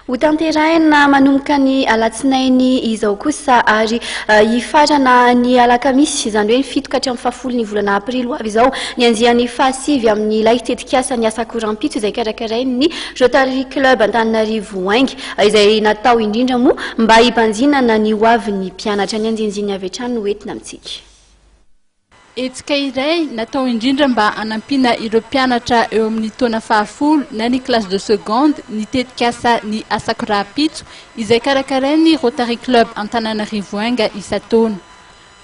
Ho tanterahina manomboka ny alatsinainy izao kosa ary uh, hifarana ny alakamisy izany hoe ny fito ka hatramin'ny fahafolo ny volana aprily ho avy izao ny andiany fahasivy amin'ny ilay tetikasa ny asako rahampitso izay karakarain'ny Rotary Club Antananarivo Ainga izay natao indrindra moa mba hibanjinana ny ho avin'ny mpianatra ny anjinjiny avy hatrany no entina amintsika. Hetsika iray natao indrindra mba hanampiana ireo mpianatra eo amin'ny taona fahafolo na ny classe de seconde ny tetikasa Ny Asako Rahampitso izay karakarain'ny Rotary Club Antananarivo Enga isan-taona.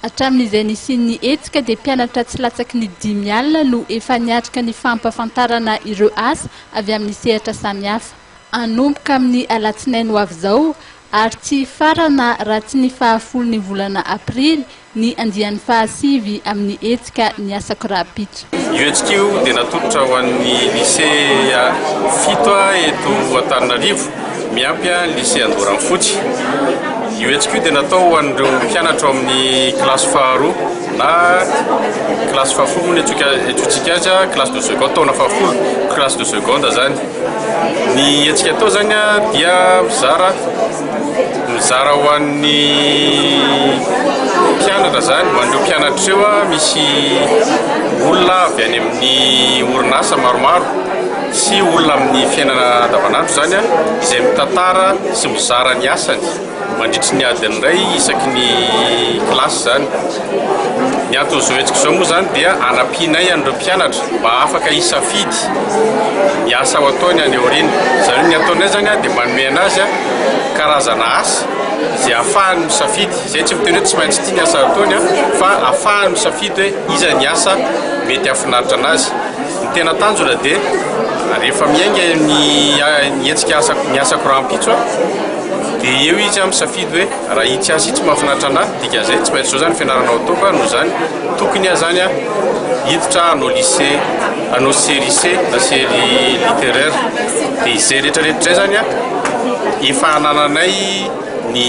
Hatramin'izay nisian'ny hetsika dia mpianatra tsy latsaky ny dimy alina no efa niatrika ny fampahafantarana ireo asa avy amin'ny sehatra samihafa. Hanomboka amin'ny alatsinainy ho avy izao ary tsy hifarana raha tsy ny fahafolon'ny volana aprily Ny andiany fahasivy amin'ny hetsika Ny Asako Rahampitso. Io hetsika io dia natolotra ho an'ny lisea fito eto Antananarivo, miampy ny lisea Andoranfotsy. Io hetsika io dia natao ho an'ireo mpianatra ao amin'ny kilasy faharoa na kilasy fahafolo moa no iantsoantsika azy, classe de seconde, taona fahafolo, classe de seconde izany. Ny hetsika atao izany dia mizara. Mizara ho an'ny mpianatra izany, ho an'ireo mpianatra ireo aho, misy olona avy any amin'ny orinasa maromaro sy olona amin'ny fiainana andavanandro izany aho izay mitantara sy mizara ny asany mandritry ny adiny iray isaky ny kilasy izany. Ny anton'izao hetsika izao moa izany dia hanampianay an'ireo mpianatra. mba afaka hisafidy ny asa ho ataony any aoriana. Izany hoe ny ataonay izany dia manome anazy karazana asa izay ahafahany misafidy. Izay tsy miteny hoe tsy maintsy ity ny asa ataony fa ahafahany misafidy hoe iza ny asa mety hahafinaritra anazy. Ny tena tanjona dia rehefa miainga ny hetsika asako ny asako rahampitso dia eo izy misafidy hoe. Raha itsy azy itsy mahafinaritra anà, dikan'izay tsy maintsy izao izany fianarana ao an-toaka a, noho izany tokony aho izany a hiditra hanao lycée, hanao cerise na cery littéraire. Dia izay rehetrarehetra izay izany a, efa anananay ny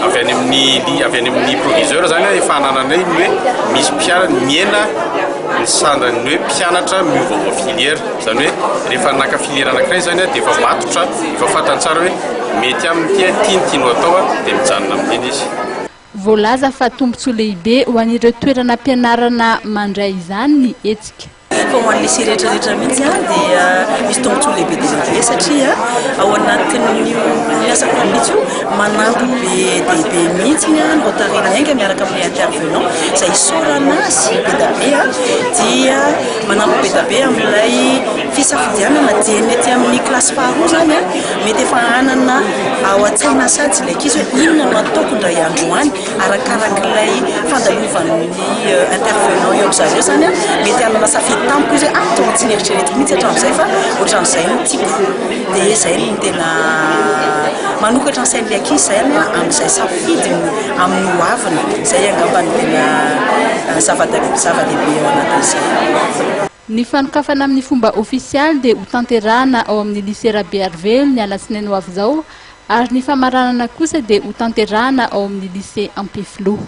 avy any amin'ny li- avy any amin'ny proviseur izany a, efa anananay ny hoe misy mpia- mihena ny sandan'ny hoe mpianatra miovaova filière. Izany hoe rehefa naka filière anankiray izany a dia efa matotra, efa fantany tsara hoe. Mety aminy ity a, tiany ity no atao a, dia mijanona amin'iny izy. Voalaza fa tombontsoa lehibe ho an'ireo toeranam-pianarana mandray izany ny hetsika. Fa ho an'ny lycée rehetrarehetra mihitsy dia misy tombontsoa lehibe dia lehibe satria ao anatin'io asa mpanitsy io manampy be dia be mihitsy ny Rotary Niainga miaraka amin'ny intervenant izay isaorana azy be dia be a, dia manampy be dia be amin'ilay fisafidianana dieny ety amin'ny kilasy faharoa izany a. Mety efa hanana ao an-tsaina satsy ilay ankizy hoe inona no ataoko indray andro any, arakarak'ilay fandalovan'ny euh, intervenant eo amin'izareo izany a, mety hanana safidy tampoka izy hoe ah tonga tsy nieritreretiko mihitsy hatramin'izay fa ohatran'izay no tiako, dia izay no tena manokatra ny sain'ilay ankizy izay aloha amin'izay safidiny amin'ny ho aviny, izay angamba no tena euh, zava-dehibe eo anatin'izay. Ny fanokafana amin'ny fomba ofisialy dia hotanterahana ao amin'ny Lycée Rabearivelo ny alatsinainy ho avy izao ary ny famaranana kosa dia hotanterahana ao amin'ny Lycée Ampefiloha.